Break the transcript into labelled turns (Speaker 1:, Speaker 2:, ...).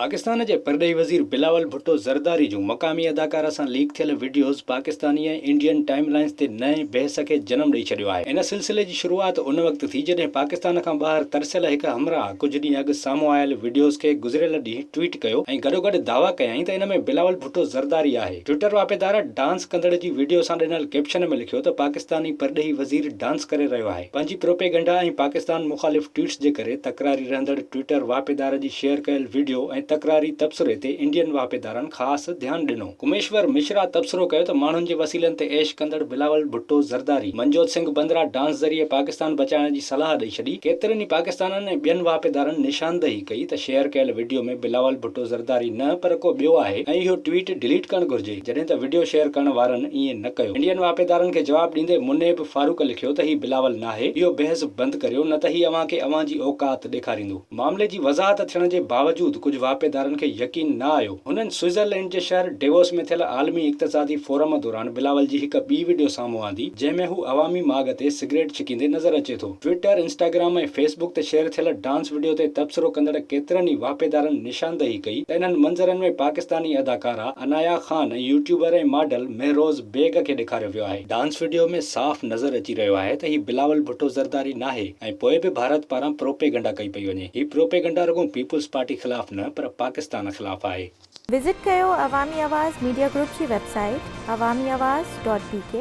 Speaker 1: پاڪستان جي پرڏيهي وزير بلاول ڀٽو زرداري جون مقامي اداڪاره سان ليڪ ٿيل videos Pakistani ۽ Indian timelines تي نئين بحث کي جنم ڏئي ڇڏيو آهي. ان سلسلي جي شروعات ان وقت ٿي جڏهن پاڪستان کان ٻاهر ترسيل هڪ همراهه ڪجهه ڏينهن اڳ سامهون آيل وڊيوز کي گذريل ڏينهن ٽوئيٽ ڪيو ۽ گڏوگڏ دعويٰ ڪيائين ته ان ۾ بلاول ڀٽو زرداري آهي. ٽوئيٽر واهپيدار ڊانس ڪندڙ جي وڊيو سان ڏنل ڪيپشن ۾ لکيو ته پاڪستاني پرڏيهي وزير ڊانس ڪري رهيو آهي. پنهنجي پروپيگنڊا ۽ پاڪستان مخالف ٽوئيٽس جي ڪري تڪراري رهندڙ ٽوئيٽر واهپيدار جي شيئر ڪيل وڊيو ۽ تڪراري تبصري تي انڊين واهپيدارن خاص ڌيان ڏنو. گميشور مشرا تبصرو ڪيو ته ماڻهن جي وسيلن تي عيش ڪندڙ بلاول ڀٽو زرداري منجوت سنگهه بندرا ڊانس ذريعي پاڪستان بچائڻ جي صلاح ڏئي ڇڏي. ڪيترن ئي پاڪستانين ۽ ٻين واهپيدارن نشاندهي ڪئي ته شيئر ڪيل وڊيو ۾ بلاول ڀٽو زرداري نه پر ڪو ٻيو آهي ۽ اهو ٽوئيٽ ڊليٽ ڪرڻ گهرجي. جڏهن ته وڊيو شيئر ڪرڻ وارن ائين نه ڪيو. انڊين واهپيدارن کي جواب ڏيندي منيب فاروق لکيو ته هي بلاول ناهي، اهو بحث بند ڪريو نه ته هي اوهان کي اوهان جي اوقات ڏيکاريندو. معاملي جي وضاحت ٿيڻ جي باوجود ڪجهه واهپيدارن کي يقين نه آيو. هنن سوئيزرلينڊ جي شهر ڊيووس ۾ ٿيل عالمي اقتصادي فورم دوران بلاول جي هڪ ٻي وڊيو سامهون آندي، جنهن ۾ هو عوامي ماڳ تي سگريٽ ڇڪيندي نظر اچي ٿو. ٽوئيٽر، انسٽاگرام ۽ فيسبوڪ تي شيئر ٿيل ڊانس وڊيو تي تبصرو ڪندڙ ڪيترن ئي واهپيدارن نشاندهي ڪئي ته انهن منظرن ۾ پاڪستاني اداڪارا عنايا خان ۽ يوٽيوبر ۽ ماڊل مهروز بيگ کي ڏيکاريو ويو آهي. ڊانس وڊيو ۾ صاف نظر اچي رهيو آهي ته هي بلاول ڀٽو زرداري ناهي ۽ پوء به ڀارت پاران پروپيگنڊا ڪئي پئي وڃي. هي پروپيگنڊا رڳو پيپلز پارٽي خلاف نه پر پاڪستان خلاف آهي. وزٽ
Speaker 2: ڪيو عوامي آواز ميڊيا گروپ جي
Speaker 1: web
Speaker 2: site Awami Awaz dot بي ڪي.